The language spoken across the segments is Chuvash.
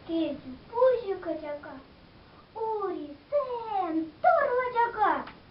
Кӗтӳ пуҫӗ качака, урисем турлӑ чака.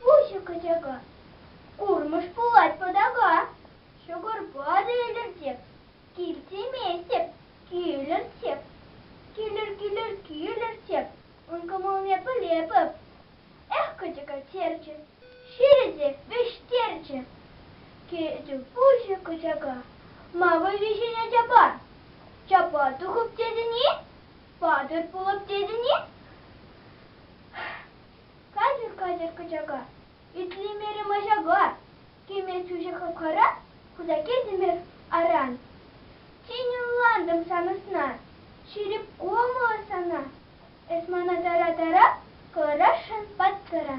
Пуҫӗ качака, курмӑш пулать пӑтака. Ҫӑкӑрпа та илӗртеп, кил тиместӗп, килӗртеп. Килӗр, килӗр, килӗртеп, ун кӑмӑлне пӗлепӗп. Эх, качака черчӗ, ҫирӗ те вӗҫтерчӗ. Кӗтӗм пуҫӗ качака, мавӑ виҫене чапа. Чапа тухӑп тетӗн-и? Патӑр пулӑп тетӗн-и? Катӗр-катӗр кӑчака, итлемерӗм аҫака, Кӗме чучӗ хапхара, хуса кӗтӗмӗр аран. Тин ӑнлантӑм сан ӑсна, ҫирӗп кӑмӑллӑ сана, Эс мана тара-тара, кӑларасшӑн паттӑра.